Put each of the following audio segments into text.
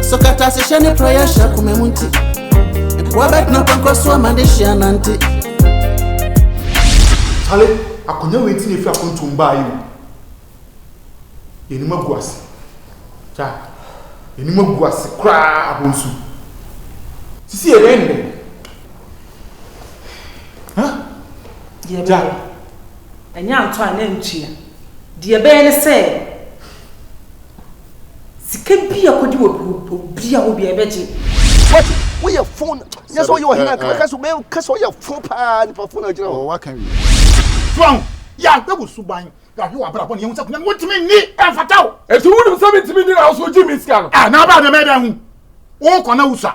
Nso kata se hyɛ ne prayer hyɛ kome mu nti Nkoa bɛtena pɔnkɔ so ama ne hyia nante Sale, akonya wei ti na efi akontom baa yi o Yɛnim agu ase Kya, yɛnim agu ase koraa abonsu Sisi yɛ dɛn ne dɛn? Huh? Deɛ bɛyɛ, ɛnyɛ antɔ a na ntua Deɛ ɛbɛyɛ ne sɛ, sika bi a kɔdi wɔ obi a hɔ bia ɛbɛgye. Wati woyɛ fon nyɛ sɛ woyɛ ɔhene anka mɛka sɛ mɛka sɛ woyɛ fon paa nipa fon agyina hɔ. Waka wie. So ahu? Yɛahwɛ wo suban, yɛahwɛ w'abrabɔ na yɛahu sɛ akonnwa no wontumi nni, ɛmfata wo. Enti wonim sɛ mentumi nni na wo nso wogye me sika no? Ah, na baa dɛm ɛdɛn ho? Wokɔ na wosua.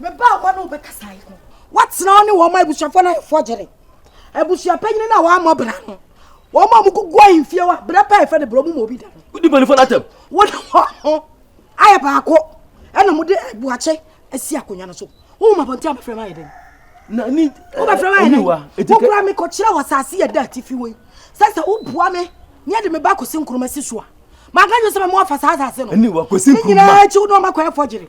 Me ba a wɔne wo bɛkasa yi no, woatena wo ne wɔn ma abusuafoɔ no ayɛ fɔgyere. Abusuapanyini no a wɔammɔ bra no, wɔn a wɔkugu ahemfie wa berɛ pɛ a ɛfɛ de berɛ mu ma obi da no. Wodi mpanimfoɔ no atɛm. Wode wɔn ho ayɛ baako ɛna mode abuakye asi akonnwa no so. Wohu mabɔnten a bɛfrɛ ma ayɛ dɛn? Na ni wobɛfrɛ ma ayɛ dɛn? Wokura me kɔkyerɛ wɔ asase yɛ da atifi wei sɛ sɛ woboa me ne ɛde me ba kɔsi nkuruma si so a maka dwo sɛ mɛmo afa saa asase no ne nyinaa akyi wo ne ɔma kɔɛ fɔgyere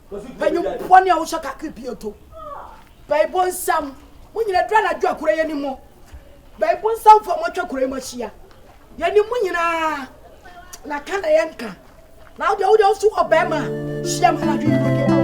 Panyin bɔne a wohyɛ kakra bi eto. Baibo nsɛm. Mo nyina dura anadwo a kura yɛ ni mo. Baibo nsɛm fo a moatwa kura yi mo ahyia. Yɛ ni mo nyinaa. Na ka na yɛ nka. Na wode wode wo so wɔ bɛrima hyia ma anadwo yi wode awo.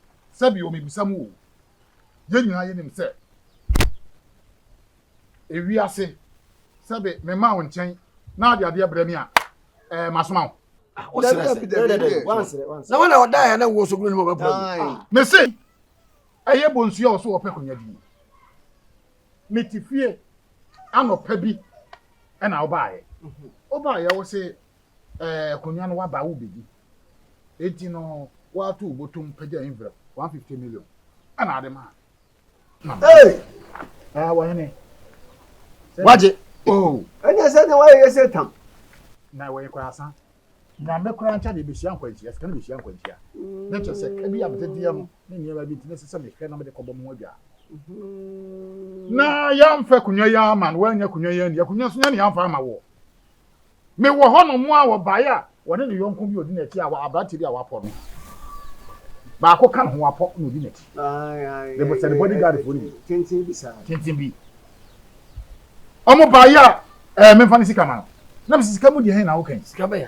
Sɛ bio mebisa mo oo, yɛn nyinaa yɛnim sɛ ewiase, sɛ be memaa wo nkyɛn na ade adeɛ brɛ me a, ɛɛ masoma wo? Ah, wo serɛ sɛ, dɛbi dɛbi, wansrɛ, wansrɛ. Na wɔn a wɔdaeɛ na wɔwɔ sogunu no mu ɔbɛboa mu. Ah. Mese, ɛyɛ bonsu a ɔso ɔpɛ konya die. Mete fie anɔpa bi ɛna ɔbaeɛ. Ɔbaeɛ wo se Ɛɛ, akonnwa no waba a wobedi. Enti no woato wo botom pagya envelope one fifty million ɛna ade ma. Hey! Ah, wɔhene. Wagye. Oh. Ɛnyɛ sɛ na wɔyɛ sɛ tam. Na wɔyɛ kora asa. Na me kora nkyɛ de behyia nkwanhyia, sika no behyia nkwanhyia. Mm. Ne kyɛ sɛ ebi a mede deɛ no ne nneɛma bi nti ne sɛ sɛ mehwɛ na mede kɔbɔ mo adwa. Mm-hmm. Na yɛamfa akonnwa yi ama no, woanya akonnwa yi ani. Akonnwa nso nya ne yɛamfa ama wɔ. Mewɔ hɔnom a wɔbaeɛ a wɔne ne yɔnko bi a ɔdi n'akyi a aberanteɛ bi a wɔapɔ no baako ka ne ho apɔ na ɔdi n'akyi. Sɛ ne bodyguardfoɔ no bi tenten bi saa tenten bi wɔn baeɛ a ɛɛ memfa ne sika ma no na mesɛ sika mu deɛ hɛn na woka yi sika bɛyɛ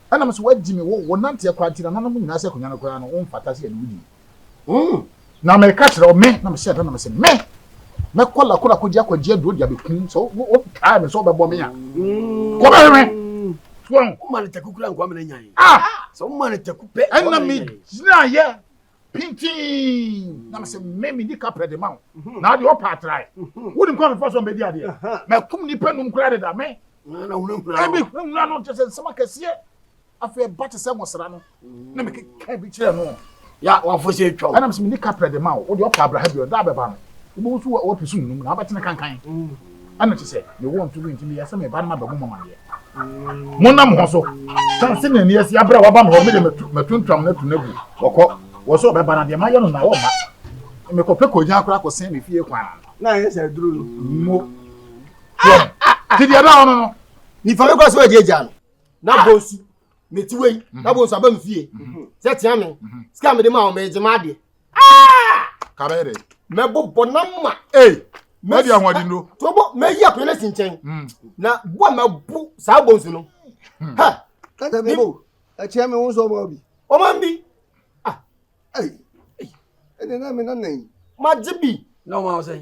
Ɛnam sɛ wɔagye me, wo, wonanteɛ koraa nti, nananom nyinaa sɛ akonnwa no koraa no, womfata sɛ yɛne wo di. Mm. Na mereka kyerɛ wo, me, na mehyɛɛ da na mese, me, mɛkɔ Lakona akɔgye akwagye aduro de abɛkum, sɛ wo, wo, wokae me sɛ wobɛbɔ me a, kɔbɛhwɛ me. Wɔn. Woma no taku koraa nkoa ma no anyan. Ah! Sɛ woma no taku pɛ, nkoa ma no anyan. Ɛnna megyinaeɛ pintinn na me sɛ me medi kapɛ de ma wo mhm. na adeɛ ɔpa atrae mhm. wonim kɔ mefa so mbɛdi adeɛ makum nnipa num koraa deda me ɛbi hwehura no kyɛ sɛ nsɛm akɛseɛ afei ɛba te sɛ nwosra no mm. na mekeka bi kyerɛ no ya wafo sɛ atwa wo ɛnam sɛ medi kapɛ de ma wo wode ɔpa abraha bi ɔda bɛba no wobɛhu so wapisu num na wabɛtene kankan mm. ɛna kyɛ sɛ mewɔ nto bi nti meyɛ sɛ meba no mabɛbɔ mo amaneɛ monna mo ho so sane sɛ nani asi aberɛ a waba me hɔ mede matuntwam no atu no agu wɔkɔ wɔ sɛ ɔbɛba no deɛ mayɛ no na wɔmma mekɔpɛ kɔgyaa koraa kɔsɛn me fie kwan na ɛyɛ sɛ aduro no mo nti deɛ ɛda hɔ no no nifa bɛkɔ sɛ wɔagye agya no na bɔ su me ti wei mhm. na bo nso aba me fie mhm. sɛ tia me mhm. sika mede ma wo megye ma adeɛ ah! kabɛyɛdɛ mɛbobɔ na ma mɛdi ahoɔden no tobo mɛyi akɔyɛ no si nkyɛn mm. na bo a mɛbo saa bo nso no mm. ha kata me bo ɛkyerɛ me wo nso ɔma bi ɔma bi ah ɛnɛ na me nana yi magye bi na ɔma wo sɛn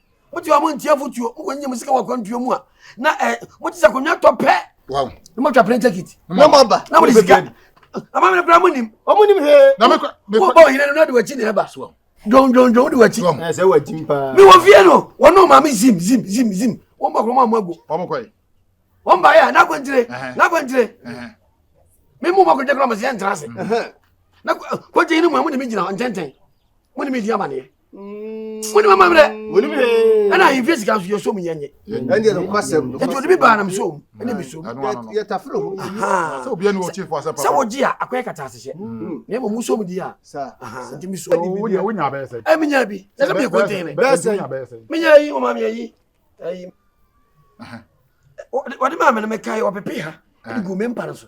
mo ti ɔmo ntia futuo mo kɔ nyɛ mo sika wɔ akwantuo mu a na ɛ mo ti sɛ akonnwa tɔ pɛ na mo twa plane ticket na mo aba na mo de sika ama mi kura mo nim ɔmo nim hee mo bɔ ɔhene no na de wakyi na ɛba dwondwondwon de wakyi mi wɔ fie no wɔn no maame zim zim zim zim wɔn bɔ kɔn mu amu agu wɔn ba yɛ a n'akwantire n'akwantire mi mu ma kɔjɛ kura mo si yɛ ntra ase na kɔjɛ yi ni mu a mo ni mi gyina ntɛntɛn mo ni mi di amaneɛ. wone mama berɛ ɛna ahemfie sika nso yɛsom yɛnye ɛti ɔde bi baa nam som ɛne mesom sɛ wogye a akɔyɛ kata asehyɛ na mmom wosom di a nti mesomɛmenya bi na sɛ mekɔtee me menya yi ɔma meayi wɔde maa me no mekae ɔpepe ha ɛde gu me mpa no so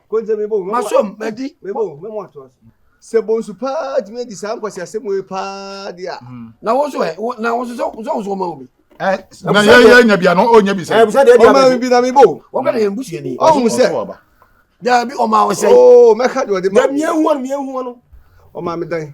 Masom, madi, sɛ bonsu paa tumi adi saa nkwaseasɛm wei paa de a. Hmm. na wo nso ɛ na wo nso sɛ wo nso ɔma wo bi. na yɛ yɛ nya bi ano o nya bi sɛ. ɔma mi bi na mi bo. wɔn bɛ na yɛn busua ni. ɔhun sɛ dabi ɔma awɔ sɛ. ooo mɛka de ɔde ma. dabi miɛ hu ɔno miɛ hu ɔno ɔma mi dan.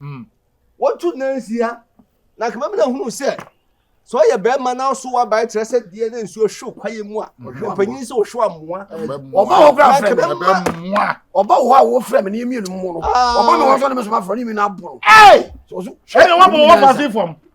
Hmm. Wɔtu nansia na akemamina hunu sɛ sɛ ɔyɛ bɛrima na ɔso wabae kyerɛ sɛ deɛ na nsuo hwe kwaeɛ mu a ɔpanyin sɛ ɔhwe amoa ɔba hɔ kora frɛ me ɔba hɔ a wɔfrɛ me ne mmienu mu no ɔba me hɔ sɛ ne me so mafrɛ ne mmienu aboro sɛ ɔso hwɛ ne wabɔ wɔ pase fam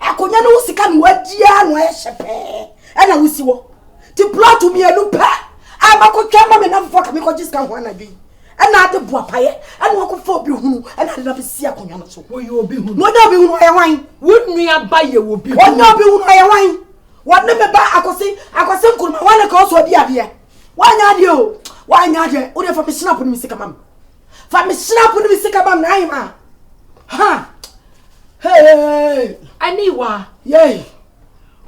akonnwa no wo sika na wadi ara na wayɛ hyɛ pɛɛ ɛna wosi wɔ ti plɔt mmienu pɛ a makɔtwa ma me namfoɔ ka mekɔgye sika ho anadwo yi ɛna ade boa payɛ ɛna wakɔfa obi hunu ɛna ade na bɛsi akonnwa no so wɔyɛ obi hunu na ɔnyɛ obi hunu ɔyɛ wan wo nua ba yɛ obi hunu ɔnyɛ obi hunu ɔyɛ wan wɔne me ba akɔse akɔse nkuruma wɔne ka ɔsɔ ɔdi adeɛ wanyɛ adeɛ o wanyɛ adeɛ wode fa me snap no me sika ma me Fa me srapo ne me sika ba Naim a. Ha! Hey! Aniwa. Yay.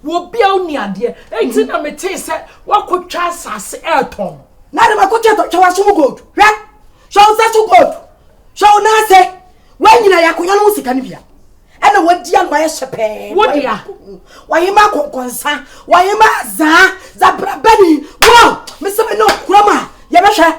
Wɔ bia wo ni adeɛ. Enti na me tee sɛ wakɔtwa asase ɛretɔn. Na de makɔtwa tɔ twɛ waso mu gold. Hwɛ. Hwɛ wo nsa so gold. Hwɛ wo nan ase. Wanyina yakonya no ho sika no bia. Ɛna wadi ano ayɛ hyɛ pɛɛ. Wo dea. Wayema kɔnkɔnsa. Wayema azaa. Zabrabani. Wow! Mesɛ me ne ɔkura ma. Yɛbɛhwɛ.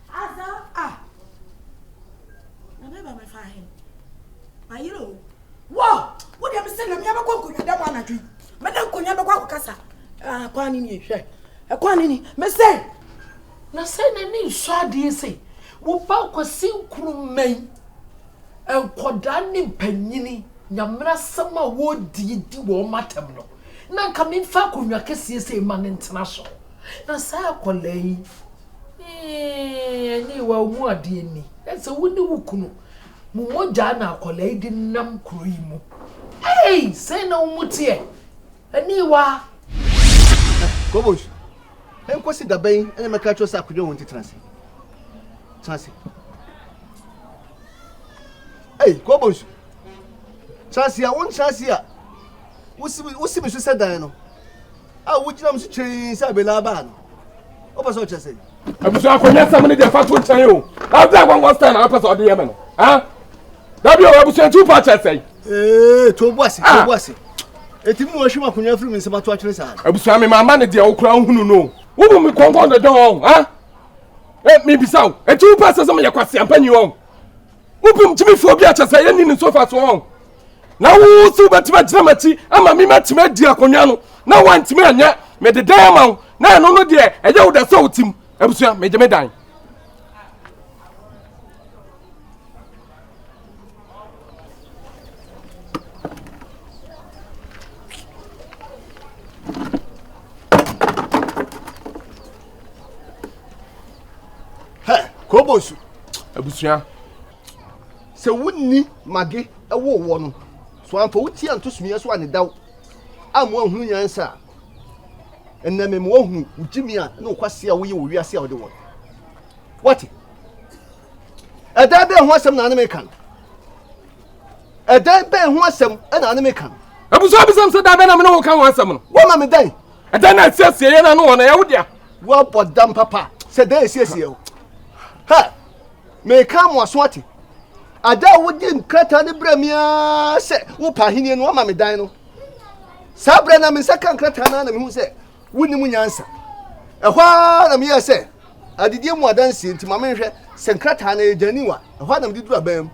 Adza a na meba me fa he, mayera o. Wɔ! Wo deɛ mesɛ na mea bɛkɔ nkonwa dɛm anadwo yi. Me ne nkonwa bɛkɔ akɔkasa. Ah, kwan ne nie, hwɛ. Ɛkwan ne ni, mesɛ. Na sɛ n'ani nsɔ adeɛ sɛ, wo ba Kwasi Nkrumah yi, nkɔdaa ne mpanyini, Nyamera asɛm a wɔredie di wɔn atɛm no, na nka memfa akonwa kɛseɛ sei ma no ntena so. Na saa akɔlaa yi. Eeii ɛnee wa ɔmu adeɛ ni ɛsɛ wo ne wo kunu mo mogyaa na akwadaa yi de nam kuro yi mu ei sɛn na wo mu teɛ ɛnee wa. Kobos nkosi dabɛn ɛna mɛka kyerɛ sɛ akwadwa wɔn ti tena ase tena ase ei kobos tena ase a wɔn tena ase a wosi wosi mi so sɛ dan no. a wogyinam so kyeree sɛ abela baa no wopɛ sɛ ɔkyɛ sɛ abusua akɔnyɛ sɛm no deɛ fa to nkyɛn o abda wɔwɔ style a wopɛ sɛ ɔde yɛ me no dabi o abusua nti wopa kyɛ sɛe ee to bo ase to bo ase ɛtumi na wɔhwe m akonya firi me nsɛm ato atwene saa abusua me maama no deɛ wokora wohunu no wobu me kɔnkɔn dɔdɔn mebisa wo ɛti wopɛ sɛ sɛ meyɛ kwaseampa nyi wɔn Wobom gyimi fi obi a kyɛ sɛ yɛnni ne so fa so wɔn. Na wo so wobɛtumi agyina m'akyi ama me matumi adi akonnwa no na woantumi anyɛ mede dan ama wo na ɛno no deɛ ɛyɛ wo da sɛ wo tim abusua megye me dan. hɛ kobosu abusua sɛ wonni mage ɛwɔ wɔ no so amfa wo ti anto sumiɛ so anedaw a mo ahunu nyansa a ɛnna me ma wahunu wo gyimi a ne wokwase a woyɛ wɔ wiase a wode wɔ no wate ɛdan bɛn ho asɛm na ane meka no ɛdan bɛn ho asɛm na ane meka no abusua bisɛm sɛ da bɛn na mene wo ka ho asɛm no woama me dan ɛdɛn na asiesie yɛn ano wɔ na yɛwo dea woabɔ dam papa sɛ dɛn asiesie o hɛ meka mmoaso ate ada a wode nkrataa no berɛ me ara sɛ wopa ahenni no wama me dan no saa berɛ na me nsa ka nkrataa no na mehu sɛ wonim nyansa ɛhɔ ara na meyɛ sɛ adedie mu adanseɛ nti ma menhwɛ sɛ nkrataa no ɛgyani wa ɛhɔ ara na mede duru abɛn mu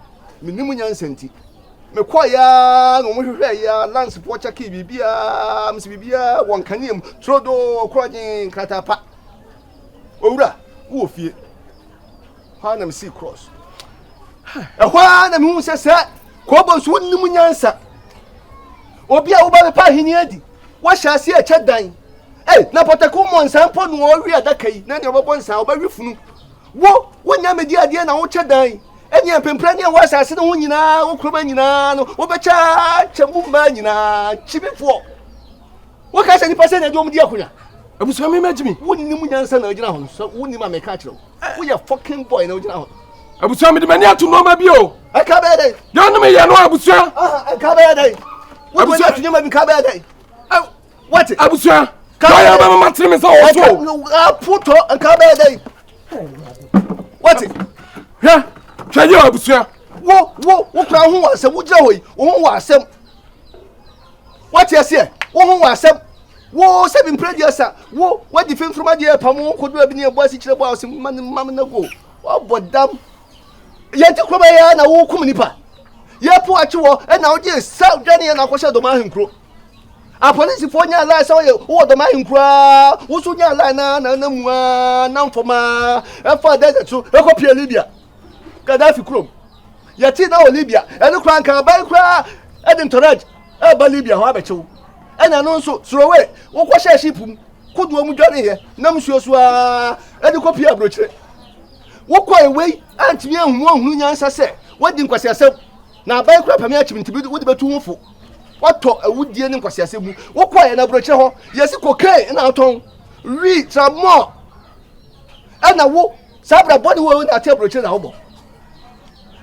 menim nyansa nti Mekɔe ara na wɔhwehwɛɛ yi ara, lungs, pɔ, kyɛkee biribiara, mese biribiara wɔ nkanea mu, turodoo, korɔgyen, nkrataa pa. Owura, wowɔ fie. Hɔ ara na mesii cross. Ɛhɔ ara na mehu sɛ sɛ kɔɔbɔ nso wonim nyansa. Obi a woba bɛpa ahenni adi, woahyɛ ase ɛkyɛ dan. Ei, na pɔtɛko mmɔ nsa mpo na ɔwe adaka yi, na nea ɔbɛbɔ nsa, ɔbɛwe funu. Wo, wonya medi adeɛ na wokyɛ dan. Ɛnneɛ mpempranne a ɛwɔ asase no ho nyinaa, wo kuroma nyinaa no, wobɛkyaakyɛ mu mmaa nyinaa, kyimifoɔ. Woka sɛ nnipa sɛ na ɛde wɔn di akonya. Abusua mi ma gyimi. Wonim nyansa na wogyina ho no, sɛ wonim a meka kyerɛ wo. Eh. Woyɛ fucking boy na wogyina ho. Abusua mede m'ani ato nneɛma bi o. Ɛka bɛyɛ dɛn? Deɛ ɔne meyɛ no abusua. Ɛka bɛyɛ dɛn? Wode w'ani ato nneɛma bi ka bɛyɛ dɛn? wati. abusua kaya bɛ ma tiri mi sa o so. aputɔ nka bɛ dɛ yi wati. hwɛ hwɛ yi abusua. wo wo wo kura ho wɔ asɛm wo gyina hɔ yi wo ho wɔ asɛm wati aseɛ wo ho wɔ asɛm wo sɛbi mpere deɛ sa wo wadi fimfirima deɛ pam wo kodo ebi ni ebu asi kyerɛ bu a ɔsi ma ne ma ne go ɔbɔ dam yɛn ti kura bɛ yɛ na wo kum nipa yɛ po akyi wɔ ɛna ɔgye sa dwani yɛ na akɔhyɛ dɔm ahenkuro. Apolisifoɔ nyaa line sɛ ɔyɛ wowɔ dɔm ahenkuro ara, wo nso nyaa line na na na mu ara nam fam ara ɛfa desert so ɛkɔ pie Libya Gaddafi kurom yɛte na wɔ Libya ɛne koraa nka aban koraa ɛde ntɔrɛd ɛba Libya hɔ abɛkyew ɛna no nso sorowe wokɔhyɛ ship mu kodoɔ mu dwaneeɛ nam nsuo so ara ɛde kɔ pie aburokyire wokɔ ewei antumi ahunu ahunu nyansa sɛ wadi nkwasiasɛm na aban koraa pɛme akyim nti wode bɛtu ho fo Watɔ awudie ne nkwasiasɛ mu. Wokɔ yɛn aburokyerɛ hɔ, yɛsi kokain ɛna atɔn, wi, tramɔ, ɛna wo saa abira bɔ ne wo ɛna ate aburokyerɛ na wobɔ.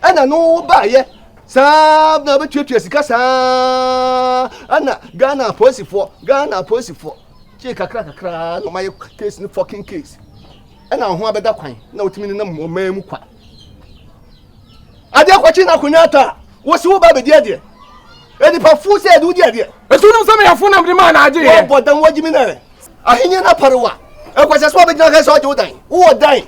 Ɛna no wo baayɛ saa na bɛtuatua sika saa ɛna Ghana apolisifoɔ, Ghana apolisifoɔ, kyee kakra kakra na ɔmayɛ case ne fucking case. Ɛna ho abɛda kwan na wotumi nenam ɔman mu kwa. adeɛ kɔkye na akonnwa atɔ a wosi wo ba bɛdi adeɛ nipa fu sɛ ɛde wodi adeɛ ɛtu nom sɛ meyɛfo nam de maa na agye yɛ wɔbɔ dan wɔgye me nɛ ahenni no aparewa ɛkɔhyɛ sɛ wɔbɛgyina kɛ sɛ ɔgye wo dan wowɔ dan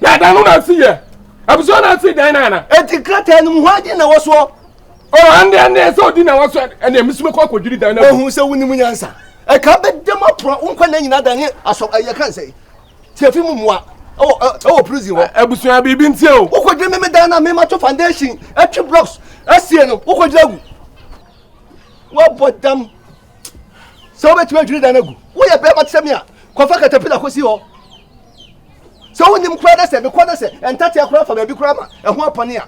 na dan no na asi yɛ abusua na asi dan no ana ɛti krataa no mu hɔ agye na wɔsoɔ ɔhande ɛne sɛ ɔdi na wɔsoɔ ɛne ɛmesome kɔ akɔdwiri dan no ɔhu sɛ wonim nyansa ɛka bɛdɛm aporɔ wonkɔ na nyina dan ne asɔ ɛyɛ ka nsɛ tiafi mu mmoa ɛwɔ ɛwɔ prison hɔ. abusua biribi nti o. wokɔ gyina mímí dan na mímá to foundation ɛtwi blocks ɛsie no wokɔ gyina gu wabɔ dam sɛ wobɛtumi adwiri dan no agu woyɛ bɛrima te sɛ me a kɔfa katapila kɔsi hɔ sɛ wonim koraa dɛ sɛ mekɔ dɛ sɛ ɛntateɛ koraa fa baabi koraa ma ɛho apɔne a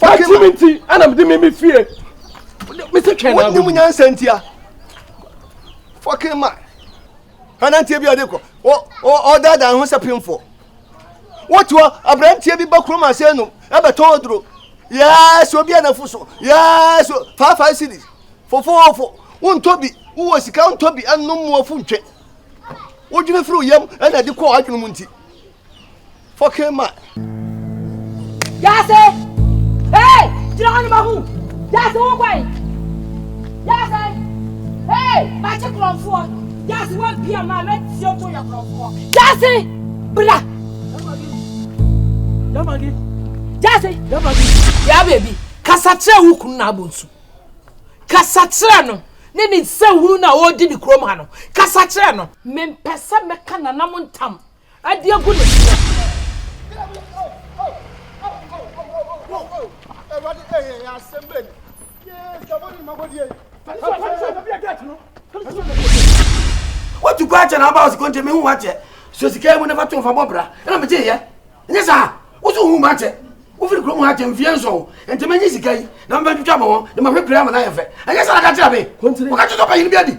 Wati mi nti ɛna mi di mi mi fie. Mi si twɛn na. Wọ́n nyim nyansa nti a. Fɔkin ma. Anantie bi ɔde kɔ. Ɔdaadaa ho sɛ pinfo. Wotu aberanteɛ bi ba kurom ase enum ɛbɛtɔn oduro. Yɛɛsi obi anafo so. Yɛɛsi five five cities. Fofoofo. Wontɔ bi. Wowɔ sika ntɔ bi ɛnum mu ofu ntwe. Wodwene firi yam ɛna ɛde kɔ adwene mu nti. Fucking man. Yase! Hey! Gyina hɔ no ma hu! Yase wo kwan! Yase! Hey! Makye korɔmfoɔ! Yase wabia ma mɛtie to yɛ korɔmfoɔ! Yase! Bra! Yamagi! Yase! Yamagi! Ya baby, kasa kyerɛ wo kunu na abonsu. Kasa kyerɛ no ne ne nsɛnhunu na ɔredi ne kurom ha no. Kasa kyerɛ no. Mempɛ sɛ mɛka nananom ntam. Adi agu ne so. Wotu kɔ akyɛ na aba ɔsi kɔnkyɛ mehu wakyɛ so sika mu nafa to nfa bɔ bra ɛna megye yɛ nyɛ saa woso hu mu akyɛ wofiri kurom akyɛ mfie nsɔn nti menye sika yi na mebɛtwitwa bɔ wɔn de mahwɛ pira ama no ayɛ fɛ ɛnyɛ saa na ka kyerɛ me wɔka kyerɛ sɛ ɔpanyin bi adi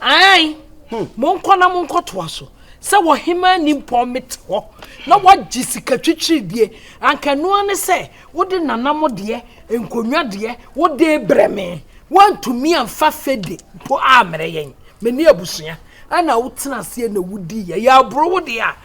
Aane, monkɔ na monkɔtoa so, sɛ wɔ hemaa nimpɔn mete hɔ na woagye sika twitwiridie, anka ɛno ara ne sɛ wode nanam deɛ, nkonnwa deɛ, wode rebrɛ me. Woantumi amfa fede mpo ammrɛ yɛn, me ne abusua, ɛnna wotena aseɛ na wodiiɛ. Yɛaboro wo deɛ a,